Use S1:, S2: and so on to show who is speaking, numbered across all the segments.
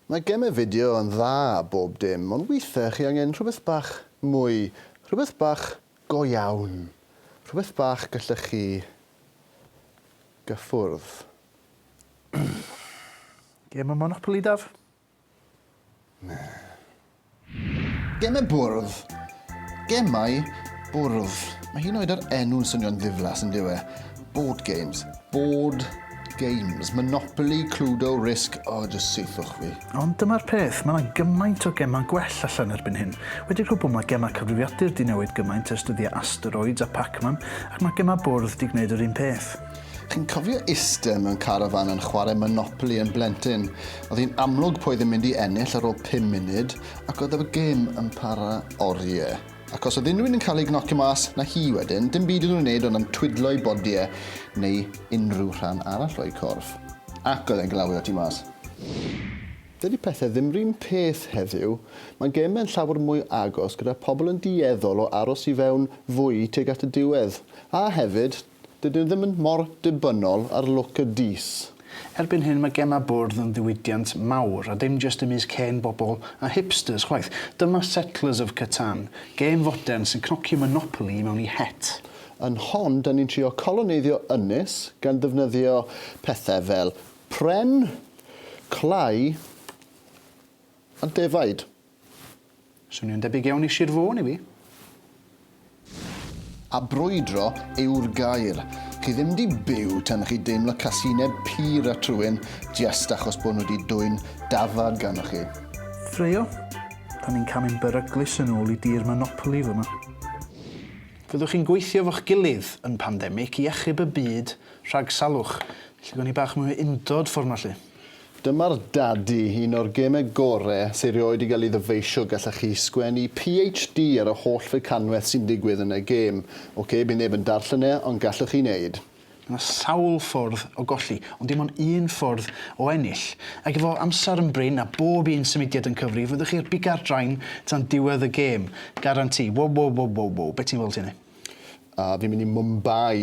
S1: Mae gemau fideo yn dda a bob dim, ond weithiau chi angen rhywbeth bach mwy, rhywbeth bach go iawn, rhywbeth bach gallech chi gyffwrdd.
S2: Gem o Monopoly, Daf?
S1: Gemau bwrdd. Gemau bwrdd. Mae hyd yn oed yr enw'n swnio'n ddiflas, yn dyw e? Board games. Board games. Monopoly, Cluedo, Risk, o, jyst saethwch fi. Ond dyma'r peth,
S2: mae 'na gymaint o gemau gwell allan erbyn hyn. Wedi cwbl mae gemau cyfrifiadur 'di newid gymaint ers dyddiau Asteroids a Pac-Man, ac mae gemau bwrdd 'di gwneud yr un peth. Chi'n cofio
S1: iste mewn carafan yn chwarae Monopoly yn blentyn? Oedd hi'n amlwg pwy oedd yn mynd i ennill ar ôl pum munud, ac oedd yr gêm yn para orie. Ac os oedd unrhyw un yn cael ei gnocio mas, 'na hi wedyn, dim byd iddyn nhw wneud ond ymtwydlo ei bodi e, neu unrhyw rhan arall o'i corff. Ac oedd e'n glawio ti mas. Dydy pethe ddim yr un peth heddiw, mae geme'n llawer mwy agos gyda pobl yn dueddol o aros i fewn fwy tuag at y diwedd. A hefyd, Dydyn nhw ddim mor dibynnol ar lwc y dys. Erbyn hyn mae
S2: gemau bwrdd yn ddiwydiant mawr, a dim jyst ymysg hen bobl a hipsters chwaith. Dyma Settlers of Catan, gêm fodern sy'n cnocio Monopoly i mewn i het. Yn hon,
S1: dyn ni'n trio coloneiddio ynys gan ddefnyddio pethau fel pren, clai a defaid.
S2: Swnio'n debyg iawn i Sir Fôn i fi.
S1: A brwydro yw'r gair. Chi ddim di byw tan chi deimlo casineb pur at rhywun jest achos bod nhw di dwyn dafad ganddo chi. Ffraeo?
S2: Da ni'n camu'n beryglus yn ôl i dir Monopoly fyma. Fyddwch chi'n gweithio fo'ch gilydd yn pandemic i achub y byd rhag salwch? Felly gawn ni bach mwy o undod ffor 'ma 'lly. Dyma'r
S1: Dadi, un o'r geme gore sy erioed i gael ei ddyfeisio gallech chi sgwennu PHD ar y holl fecanweth sy'n digwydd yn y gêm. Ok, bydd neb yn darllen e, ond gallwch chi wneud. Mae sawl
S2: ffordd o golli, ond dim ond un ffordd o ennill. Ac efo amser yn brin a bob un symudiad yn cyfri, fyddwch chi ar biga'r drain tan diwedd y gêm. Garanti. Wow wow wow wow wow. Be ti'n feddwl Tine? A fi'n mynd
S1: i Mumbai.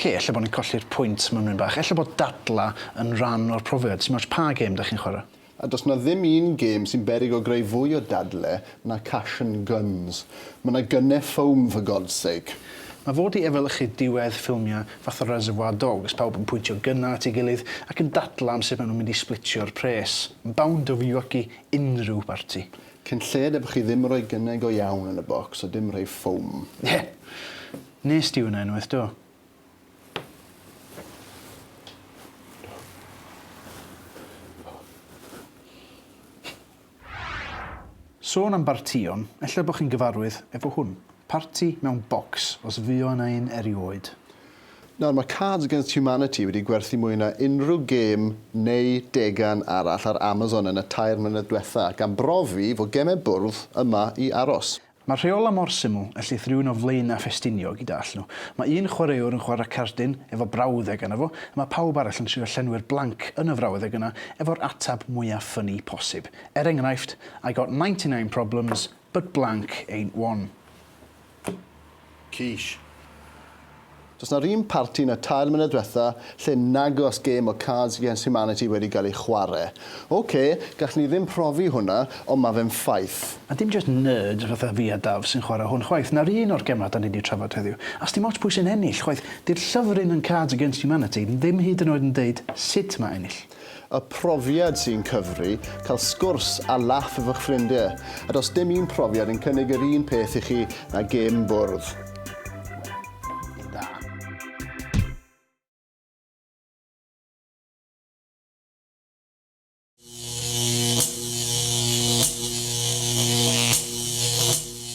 S2: Oce, ella bod ni'n colli'r pwynt mynwyn bach. Ella bod dadlau yn rhan o'r profiad. Sim ots pa gêm 'da chi'n chwarae. A does 'na ddim un
S1: gêm sy'n beryg o greu fwy o dadle na Cash and Guns. Ma' 'na gunne foam for God's sake. Mae fo 'di
S2: efelychu diwedd ffilmiau fatha Reservoir Dogs, pawb yn pwyntio gunnau at ei gilydd ac yn dadlau am sut maen nhw'n mynd i splitio'r pres. Yn bound to fywioggi unrhyw barti. Cyn lled eb
S1: chi ddim roi gynnau go iawn yn y bocs a dim rhei ffowm. Ie!
S2: Nes di hwnna unwaith do? Sôn am bartïon, ella bo chi'n gyfarwydd efo hwn. Parti mewn bocs, os fuo yna un erioed. Nawr, mae
S1: Cards Against Humanity wedi gwerthu mwy na unrhyw gêm neu degan arall ar Amazon yn y tair mlynedd diwetha', gan brofi fod gemau bwrdd yma i aros. Mae'r rheolau mor
S2: syml, y llyth rhywun o flaenau Ffestiniog i dallt nhw. Mae un chwaraewr yn chwarae cardyn efo brawddeg arno fo, a mae pawb arall yn trio llenwi'r blanc yn y frawddeg yna efo'r ateb mwya' ffynni posib. Er enghraifft, I got ninety nine problems, but blank ain't one. Císh.
S1: Does na run parti yn y tair mlynedd dwetha lle nag os gêm o Cards Against Humanity wedi gael ei chware. Ok, gallwn ni ddim profi hwnna, ond ma fe'n ffaith. A dim jyst
S2: nerds fatha fi a Daf sy'n chware hwn chwaith, na'r un o'r gemau 'da ni 'di trafod heddiw. A sdim ots pwy sy'n ennill chwaith, 'di'r llyfryn yn Cards Against Humanity ddim hyd yn oed yn deud sut ma ennill. Y profiad
S1: sy'n cyfri, cael sgwrs a laff efo'ch ffrindie, a does dim un profiad yn cynnig yr un peth i chi na gêm bwrdd. Wel, da.